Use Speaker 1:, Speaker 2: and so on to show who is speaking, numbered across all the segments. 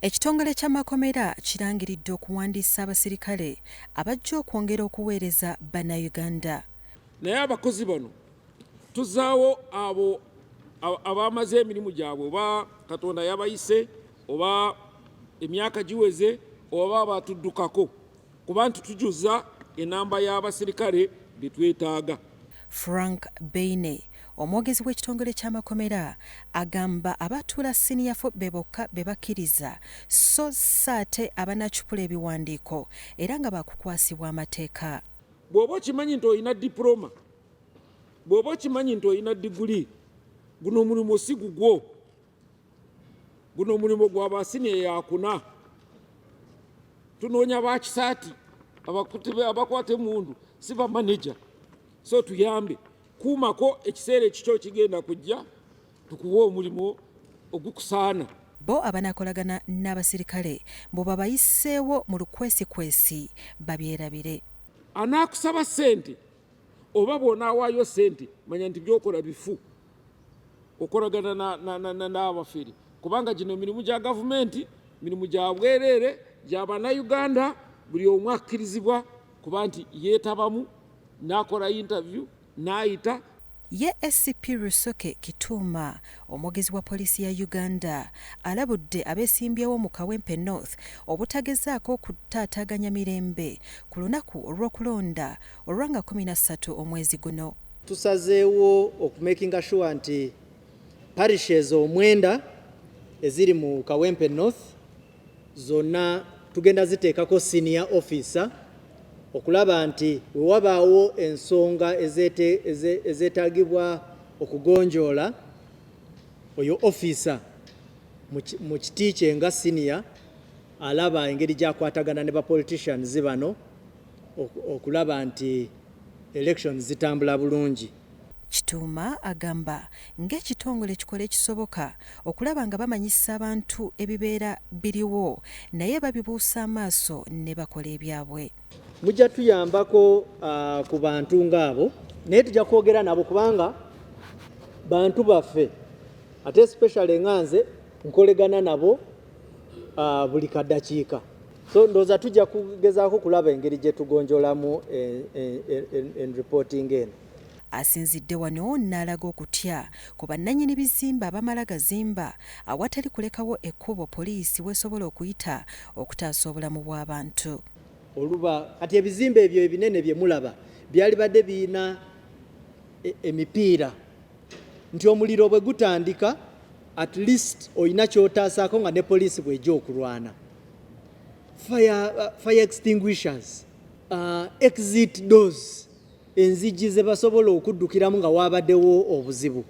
Speaker 1: Ekitongole ky'amakomera kirangiridde okuwandiisa abasirikale abajja okwongera okuweereza Bannayuganda. Naye
Speaker 2: abakozi bano tuzaawo abo abaamaze emirimu gyabwe oba Katonda yabayise oba emyaka giweze oba baatuddukako. kuba nti tujuza enamba y'abasirikale be twetaaga. Frank
Speaker 1: Beine, omwogezi w'ekitongole ky'amakomera agamba abatuula siniya fo be bokka be bakkiriza sso si ate abanaacupula ebiwandiiko era nga baakukwasibwa amateeka. Bw'oba okimanyi
Speaker 2: nti olina dipuloma, bw'oba okimanyi nti olina diguli, guno omulimu si gugwo. guno omulimu gwa basiniya yakuna tunoonya bakisaati abakwata emundu si bamaneja so tuyambe kuumako ekiseera ekikyo kigenda kujja tukuwe omulimu ogukusaana bo
Speaker 1: abanakolagana n'abasirikale mbu babayiseewo mu lukwesikwesi babyerabire anaakusaba
Speaker 2: ssente oba bw'onaawaayo ssente manya nti byokola bifu okolagana n'abafere kubanga gino mirimu gya gavumenti mirimu gya bwereere gya bannayuganda buli omu akkirizibwa kuba nti yeetabamu n'akola yintaviyu n'ayita Ye
Speaker 1: ACP Rusoke Kituuma omwogezi wa poliisi ya Uganda alabudde abeesimbyewo mu Kawempe North obutagezaako kutaataaganya mirembe ku lunaku olw'okulonda olwa nga kumi na ssatu omwezi guno. Tusazeewo
Speaker 3: oku makinga sure nti parishes omwenda eziri mu Kawempe North zonna tugenda ziteekako senior officer okulaba nti we wabaawo ensonga ezeetaagibwa okugonjoola oyo officer mu kiti kye nga senior alaba engeri gy'akwatagana ne ba politicians bano okulaba nti elections zitambula bulungi. Kituuma
Speaker 1: agamba ng'ekitongole kikola ekisoboka okulaba nga bamanyisa abantu ebibeera biriwo naye babibuusa amaaso ne bakola ebyabwe. Mujja
Speaker 3: tuyambako ku bantu ng'abo naye tujja kwogera nabo kubanga bantu baffe ate especially nga nze nkolegana nabo uh, buli kadakiika so ndoza tujja kugezaako kulaba engeri gye tugonjolamu eh, eh, eh, en reporting eno asinzidde
Speaker 1: wano n'alaga okutya ku bannannyini bizimba abamala gazimba awatali kulekawo ekkubo poliisi wesobola okuyita okutaasa obulamu bw'abantu oluba
Speaker 3: kati ebizimba ebyo ebinene bye mulaba byalibadde birina e, emipiira nti omuliro bwe gutandika at least olina kyotaasaako nga ne poliisi bw'ejja okulwana fire, uh, fire extinguishers uh, exit doors enzigi ze basobola okuddukiramu nga waabadewo obuzibu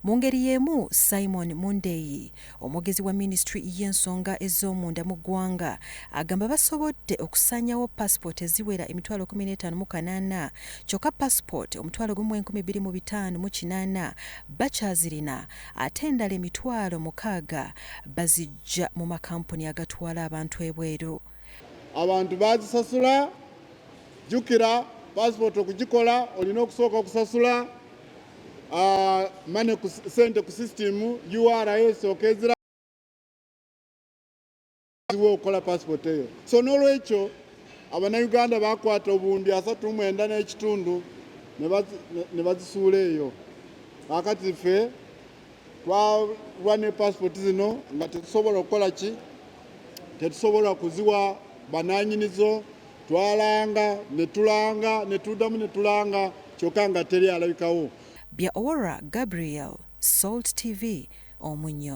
Speaker 3: mu ngeri y'emu
Speaker 1: simon mundeyi omwogezi wa minisitule y'ensonga ez'omunda mu ggwanga agamba basobodde okusaanyawo pasipooti eziwera emitwalo 158 kyokka pasipooti omutwalo gumu 2 5 mu kinaana bakyazirina ate endala emitwalo mukaaga baziggya mu makampuni agatwala abantu ebweru. Abantu
Speaker 4: bazisasula, jjukira paasipooti okugikola olina okusooka okusasula ah, mane sente ku sisitimu ura esooka ezira kizibu okukola passport eyo so n'olwekyo abanayuganda bakwata obundi asatu mwenda n'ekitundu ne bazisuula eyo kakati ffe twalwa ne passport zino nga tetusobola okukola ki tetusobola kuziwa bananyinizo twalanga netulanga netudamu netulanga kyoka nga teri alabikawo
Speaker 1: bya
Speaker 4: owora
Speaker 1: gabriel salt tv omunyo